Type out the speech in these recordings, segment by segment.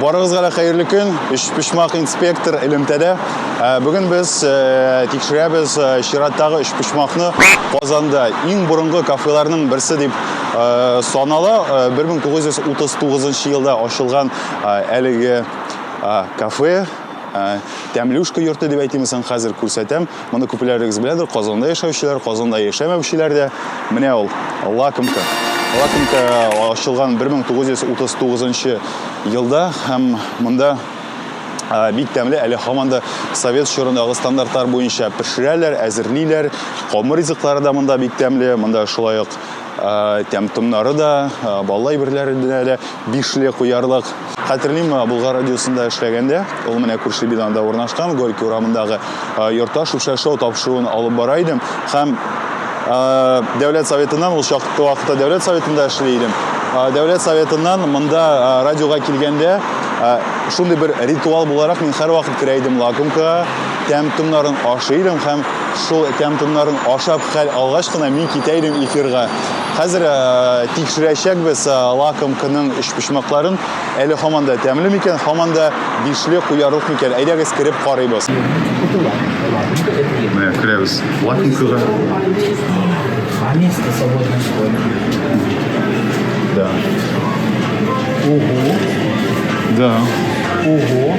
Барыгызга да хәерле көн. Өчпочмак инспектор элемтәдә. Ә, Бүген без э, тикшерәбез э, чираттагы өчпочмакны Казанда иң борынгы кафеларның берсе дип э, санала. Э, 1939 елда ачылган э, әлеге э, кафе э, Тәмлюшка йорты дип әйтимме соң хәзер күрсәтәм. Моны күпләрегез беләдер, Казанда яшәүчеләр, Казанда яшәмәүчеләр дә. Менә ул лакомка. Лакомка ачылган 1939 елда һәм монда бик тәмле әле һаман да совет чорындагы стандартлар буенча пешерәләр, әзерлиләр. Камыр ризыклары да монда бик тәмле. Монда шулай ук тәм томнары да, баллы әйберләренә дә бишле куярлык. Хәтерлим, Булгар радиосында эшләгәндә, ул менә күрше бинада урнашкан Горький урамындагы йортта шүпшә шоу тапшыруын алып бара идем һәм Дәүләт советыннан ул чакта вакытта Дәүләт советында эшли идем. Дәүләт советыннан монда радиога килгәндә шундый бер ритуал буларак мин һәрвакыт керә идем лакомка, тәм-томнарын ашый идем һәм Шул тәм-томнарын ашап хәл алгач кына мин китә идем эфирга. Хәзер э, тикшерәчәкбез э, лакомканың өчпочмакларын. Әле һаман да тәмле микән, һаман да бишле куярлык микән? Әйдәгез кереп карыйбыз. Менә керәбез. Лакомкага. Да. Ого. Да. Ого.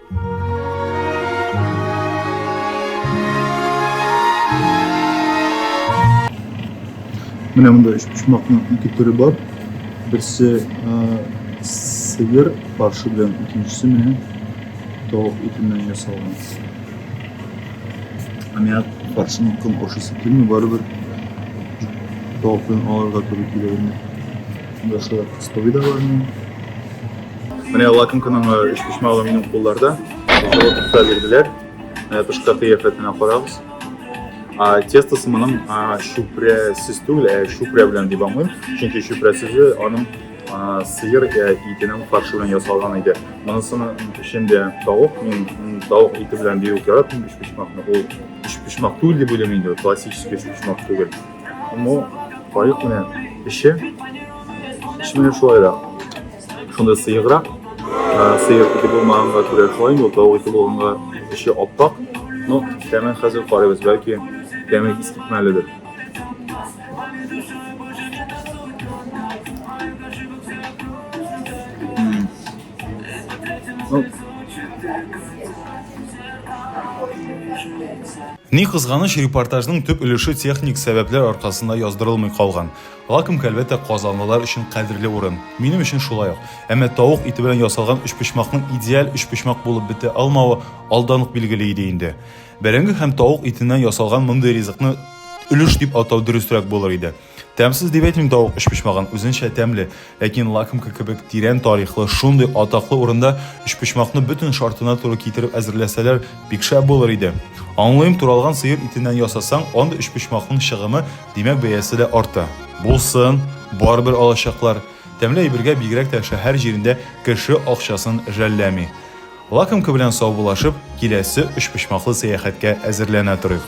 Менә монда өч почмакның ике төре бар. Берсе сыер паршы белән икенчесе менә тавык итеннән ясалган. Ә миңа паршының ком ашысы килми, барыбер тавык белән аларга туры килә инде. Монда шулай кыстовый да бар. Менә лакым кының өч почмагы минем кулларда. Җылытып бирделәр. Менә тышкы кыяфәтенә карагыз. А тестасы моның чүпрәсез түгел, ә чүпрә белән дип аңлыйм. Чөнки чүпрә сүзе аның сыер итенең фаршы белән ясалган иде. Монысының эчендә тавык, мин тавык ите белән бигүк яратмыйм, өч почмакны. Ул өч почмак түгел дип уйлыйм инде, классический өч почмак түгел. Бу кайык менә эче, эче менә шулай да. Шунда сыеграк, сыер ите булмаганга күрә шулай инде, тавык ите булганга эче аппак. Ну, тәмен хәзер карыйбыз, бәлки тәме ис китмәледер. Ну, Ни кызганыч, репортажның төп өлеше техник сәбәпләр аркасында яздырылмый калган. Лакомка, әлбәттә, казанлылар өчен кадерле урын. Минем өчен шулай ук. Әмма тавык ите белән ясалган өчпочмакның идеаль өчпочмак булып бетә алмавы алдан ук билгеле иде инде. Бәрәңге һәм тавык итеннән ясалган мондый ризыкны өлеш дип атау дөресрәк булыр иде. Тәмсез дип әйтмим тавык өчпочмагын, үзенчә тәмле, ләкин лакомка кебек тирән тарихлы, шундый атаклы урында өчпочмакны бөтен шартына туры китереп әзерләсәләр, бик шәп булыр иде. Аңлыйм, туралган сыер итеннән ясасаң, анда өчпочмакның чыгымы, димәк бәясе дә арта. Булсын, барыбер алачаклар. Тәмле әйбергә бигрәк тә шәһәр җирендә кеше акчасын жәлләми. Лакомка белән саубуллашып, киләсе өчпочмаклы сәяхәткә әзерләнә торыйк.